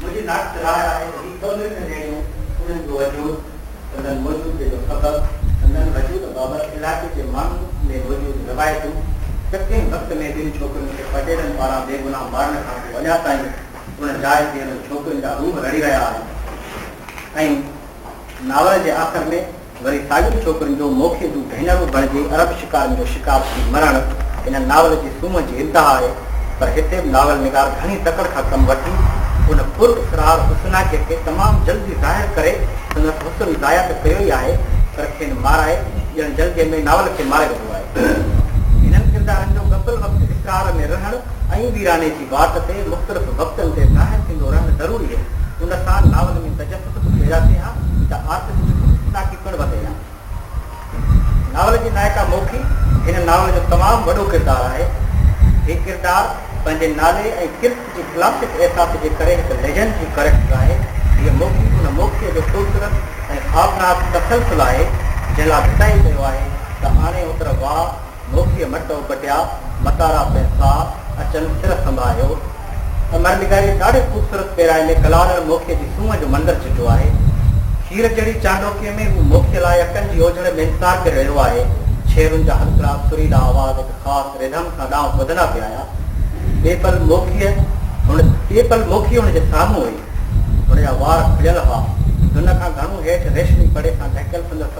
منهنجي ناقص راء آهي ته هي سندن کي نيڻيون، انهن جو وجود، سندن موجودگي جو سبب، سندن وجود بابت علائقي جي ماڻهن ۾ موجود روايتون، شڪين وقت ۾ جن ڇوڪرين کي پٽيلن پاران بيگناهه مارڻ کان پوء اڃا تائين ان جاء تي انهن ڇوڪرين جا روح رڙهي رهيا آهن ۽ ناول جي آخر ۾. وري ساڳين ڇوڪرين جو موکي جون ڀينرون بڻجي عرب شڪارين جو شڪار ٿي مرڻ هن ناول جي سومهه جي انتها آهي پر هتي به ناول نگار گهڻي تڪڙ سان ڪم وٺي ان پر اسرار حسناڪي کي تمام جلدي ظاهر ڪري سندس حسن ضايع ته ڪيو ئي آهي پر کين مارائي ڄڻ جلديء ۾ ناول کي ماري وڌو آهي. هنن ڪردارن جو غفل وقت اسرار ۾ رهڻ ۽ ويراني جي. وات تي مختلف وقتن تي ظاهر ٿيندو رهڻ ضروري هي. ان سان ناول ۾ تجسس به پيدا ٿئي ها ته آرٽسٽ جي خودشناڪي پڻ وڌي ها. ناول جي نائڪا موکي هن ناول جو تمام وڏو ڪردار آهي. هي ڪردار پنهنجي نالي ۽ ڪرت جي ڪلاسڪ احساس جي ڪري هڪ ليجنڊ جي ڪريڪٽر آهي. هيء موکي ان موکيء جو خوبصورت ۽ خوابناڪ تسلسل آهي، جنهن لاء ڀٽائي چيو آهي ته آڻي اوتر واء، ڀوڪيء مٽو بٽيا، متارا پڻ ساهه اچن سر سنباهيو. امر نگاريء ڏاڍي خوبصورت پيرائي ۾ ڪلارڙ موکيء جي سونهن جو منظر چٽو آهي. کير جهڙي چانڊوڪيء ۾ هو موکيء لاء اڪن جي اوجهڙ ۾ انتظار ڪري رهيو آهي. ڇيرن جا هلڪڙا سريلا آواز هڪ خاص رڌم سان ڏانهن ٻڌندا پيا آيا. ٻئي پل موکيء هن ٻئي پل موکيء هن جي سامهون هئي. هن جا وار کليل هئا. دن کان گهڻو هيٺ ريشمي پڙي سان ڍڪيل سندس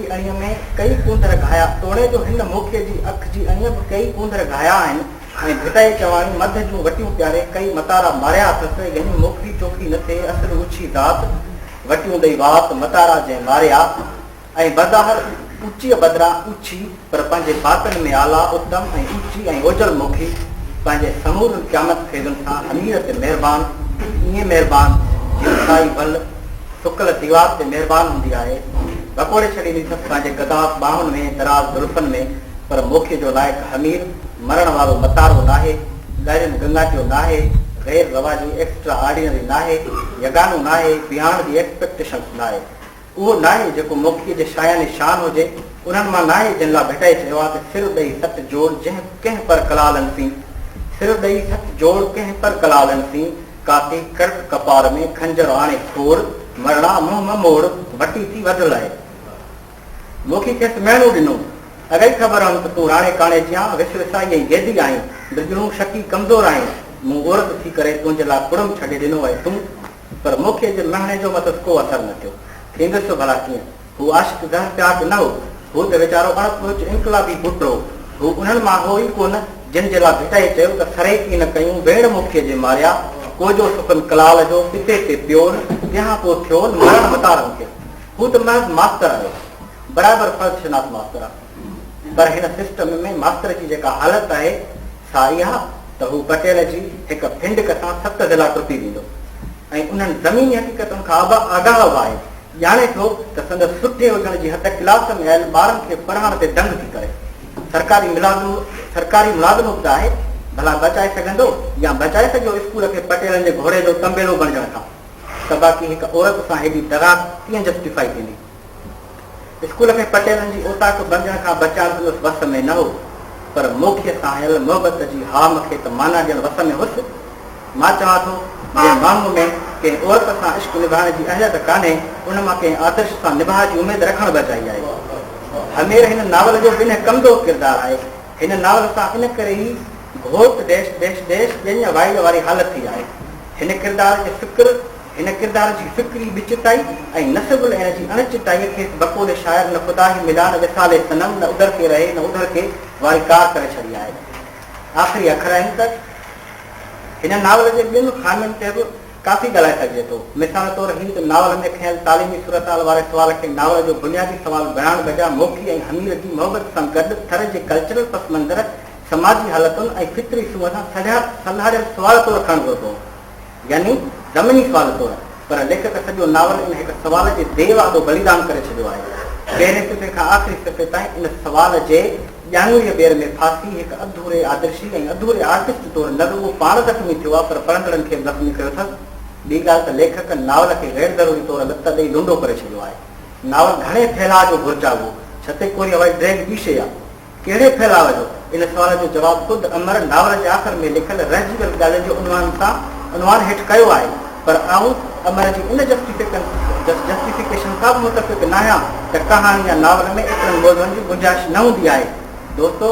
جي اڻيء ۾ ڪيئي ڪونڌر گهايا، توڙي جو هن موکيء جي اک جي اڻيء به ڪيئي ڪونڌر گهايا آهن ۽ ڀٽائي چواڻي مڌ جون وٽيون پياري ڪيئي متارا ماريا اٿس، يعني موکي چوکي نه ٿئي، اصل اوڇي ذات، وٽيون ڏئي وات، متارا جنهن ماريا ۽ بظاهر اوچيء بدران اوڇي، پر پنهنجي باطن ۾ اعليٰ، اتم ۽ اوچي ۽ اوجل موکي، پنهنجي سمورن قيامت خيزن سان حمير تي مهربان، ايئن مهربان، جيئن سائي ول، سڪل ديوار تي مهربان هوندي آهي، ڀڪوڙي ڇڏيندي اٿس پنهنجي گداس ٻانهن ۾ دراز زلفن ۾ پر موکي جو لائق حمير، مرڻ وارو متارو ناهي، ڳائريل گنگاٽيو ناهي، غير رواجي ايڪسٽرا آرڊينري ناهي، يگانو ناهي، بيهاڻ جي ايڪسپيڪٽيشنس ناهي. اهو ناهي جيڪو موکي جي شاياني شان هجي، انهن مان ناهي جن لا ڀٽائي چيو آهي ته سر ڏئي سٽ جوڙ جنهن ڪنهن پر ڪلالن سين، سر ڏئي سٽ جوڙ ڪنهن پر ڪلالن سين، ڪاتي ڪرڪ ڪپار ۾، خنجر آڻي ڦور، مرڻا منهن م موڙ، ڀٽي ٿي وڍ لائي. موکي کيس مهڻو ڏنو، اڳ ئي خبر هئم ته تون راڻي ڪاڻي ٿيان، وش وسائي ۽ جيدي آهين، برجڻو شڪي ڪمزور آهين، مون عورت ٿي ڪري تنهنجي لاء ڪڙم ڇڏي ڏنو ۽ تون. پر موکي جي مهڻي جو مٿس ڪو اثر نه ٿيو. ٿيندس ڀلا ڪيئن؟ هو عاشق گهر چاڪ نه هو. هو ته ويچارو اڻ پهچ انقلابي پٽ هو. هو انهن مان هو ئي ڪونه، جن جي لاء ڀٽائي چيو ته سريڪي نه ڪيون ويڙهه مکيء جي ماريا، ڪوجو سڪن ڪلال جو، پتي تي پيون، تنهان پوء ٿيون مرڻ متارن کي. هو ته محض ماستر آهي. برابر فرض شناس ماستر آهي. پر هن سسٽم ۾ ماستر جي جيڪا حالت آهي، سا اها ته هو پٽيل جي هڪ ڦنڊڪ سان ست ضلعا ٽپي ويندو ۽ انهن زميني حقيقتن کان به آگاهه به آهي. ڄاڻي ٿو ته سندس سٺي هجڻ جي هٿ ڪلاس ۾ آيل ٻارن کي پڙهائڻ تي دنگ ٿي ڪري. سرڪاري ملازم سرڪاري ملازم به ته آهي، ڀلا بچائي سگهندو يا بچائي سگهيو اسڪول کي پٽيلن جي گهوڙي جو تنبيلو بڻجڻ کان ته باقي هڪ عورت سان هيڏي دغا ڪيئن جسٽيفائي ٿيندي. اسڪول کي پٽيلن جي اوطاق بڻجڻ کان بچائڻ سندس وس ۾ نه هو پر موکيء سان آيل محبت جي هام کي ته معنيٰ ڏيڻ وس ۾ هيس. مان چوان ٿو، جنهن ماڻهوء ۾ ڪنهن عورت سان عشق نڀائڻ جي اهليت ڪانهي، ان مان ڪنهن آدرش سان نباهه جي اميد رکڻ به اجائي آهي. همير هن ناول جو بنهه ڪندو ڪردار آهي. هن ناول سان ان ڪري ئي گهوٽ ڊيش ڊيش ڊيش ڄڃ وائڙ واري حالت ٿي آهي. هن ڪردار جي فڪر، هن ڪردار جي فڪري ٻه چٽائي ۽ نصب العين جي اڻ چٽائيء کيس بقول شاعر نه خدا هي ملا نه وصال صنم نه ادھر ڪي رهي نه ادھر ڪي واري ڪار ڪري ڇڏي آهي. آخري اکر آهن ته. هن ناول جي ٻين خامين تي به ڪافي ڳالهائي سگهجي ٿو. مثال طور هيء ته ناول ۾ کنيل تعليمي صورتحال واري سوال کي ناول جو بنيادي سوال بڻائڻ بجاء موکي ۽ حمير جي محبت سان گڏ ٿر جي ڪلچرل پس منظر، سماجي حالتن ۽ فطري سونهن سان سڙهيا سلهاڙيل سوال طور کڻڻ گهربو هو. يعني ضمني سوال طور. پر ليکڪ سڄو ناول ان هڪ سوال جي ديو آڏو بليدان ڪري ڇڏيو آهي. پهرين صفحي کان آخري صفحي تائين ان سوال جي. ڄاڱويء ٻير ۾ ڦاسي هڪ اڌوري آدرشي ۽ اڌوري آرٽسٽ طور نه رڳو پاڻ زخمي ٿيو آهي پر پڙهندڙن کي به زخمي ڪيو اٿس. ٻي ڳالهه ته ليکڪ ناول کي غير ضروري طور لت ڏئي لنڊو ڪري ڇڏيو آهي. ناول گهڻي ڦهلاء جو گهرجا هو ڇته ڪو وري هوائي ڊريگ ٻي شيء آهي. ڪهڙي ڦهلاء جو؟ ان سوال جو جواب خود امر ناول جي آخر ۾ لکيل رهجي ويل ڳالهين جو عنوان سان عنوان هيٺ ڪيو آهي. پر آئون امر جي ان جسٽيفڪيشن کان به متفق ناهيان ته ڪهاڻي يا ناول ۾ ايترن موضوعن جي گنجائش نه هوندي آهي. دوستو!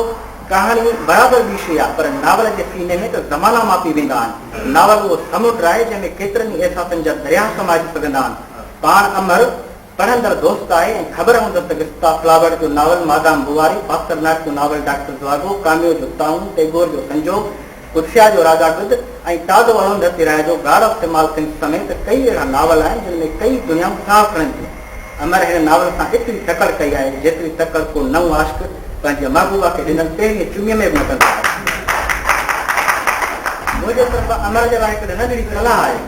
ڪهاڻي برابر ٻي شيء آهي، پر ناول جي سيني ۾ ته زمانا ماپي ويندا آهن. ناول اهو سمنڊ آهي، جنهن ۾ ڪيترن ئي احساسن جا درياهه سمائجي سگهندا آهن. پاڻ امر، پڙهندڙ دوست آهي ۽ خبر هوندس ته گستا فلاورٽ جو ناول مادام بواري، پاسترناڪ جو ناول ڊاڪٽر زواگو، ڪاميو جو طاعون، ٽيگور جو سنجوگ، ڪرشيا جو راجا گد ۽ ٽاڊو ارونڌتي راء جو گاڊ آف سمال ٿنگس سميت ڪيئي اهڙا ناول آهن جن ۾ ڪيئي دنيائون ساهه کڻن ٿيون. امر هن ناول سان ايتري تڪڙ ڪئي آهي جيتري تڪڙ ڪو نئون عاشق پنهنجي محبوبا کي ڏنل پهرين چمي ۾ به نه ڪندو آهي. منهنجي طرفان امر جي لاء هڪ ننڍڙي صلاح آهي.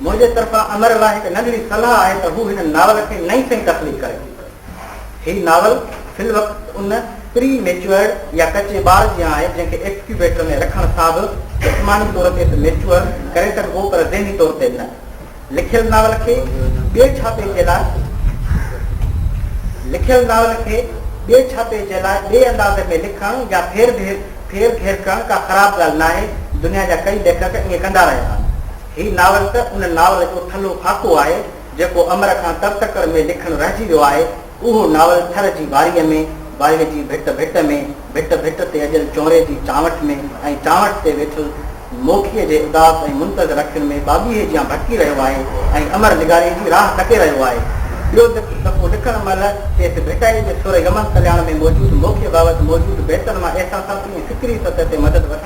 منهنجي طرفان امر لاء هڪ ننڍڙي صلاح آهي ته هو هن ناول کي نئين سئين تخليق ڪري. هي ناول في الوقت ان پري ميچوئرڊ يا ڪچي ٻار جيان آهي جنهن کي ايڪسڪيوبيٽر ۾ رکڻ سان به جسماني طور تي ته ميچوئر ڪري سگهبو پر ذهني طور تي نه. لکيل ناول کي ٻئي ڇاپي جي لاء لکيل ناول کي ٻئي ڇاپي جي لاء ٻئي انداز ۾ لکڻ يا ڦير گهير ڪرڻ ڪا خراب ڳالهه ناهي، دنيا جا ڪئي ليکڪ ائين ڪندا رهيا آهن. هي ناول ته ان ناول جو ٿلهو خاڪو آهي، جيڪو امر کان ترتڪر ۾ لکڻ رهجي ويو آهي. اهو ناول ٿر جي واريء ۾، واريء جي ڀٽ ڀٽ ۾، ڀٽ ڀٽ تي اڏيل چونري جي چانوٺ ۾ ۽ چانوٺ تي ويٺل موکيء جي اداس ۽ منتظر اکين ۾ ٻاٻيهي جيان ڀٽڪي رهيو آهي ۽ امر نگاريء جي راهه ڪٽي رهيو آهي. ٻيو ته ڪجهه دفعو لکڻ مهل کيس ڀٽائيء جي سر يمن ڪلياڻ ۾ موجود موکيء بابت موجود بيتن مان احساساتي ۽ فڪري سطح تي مدد وٺڻ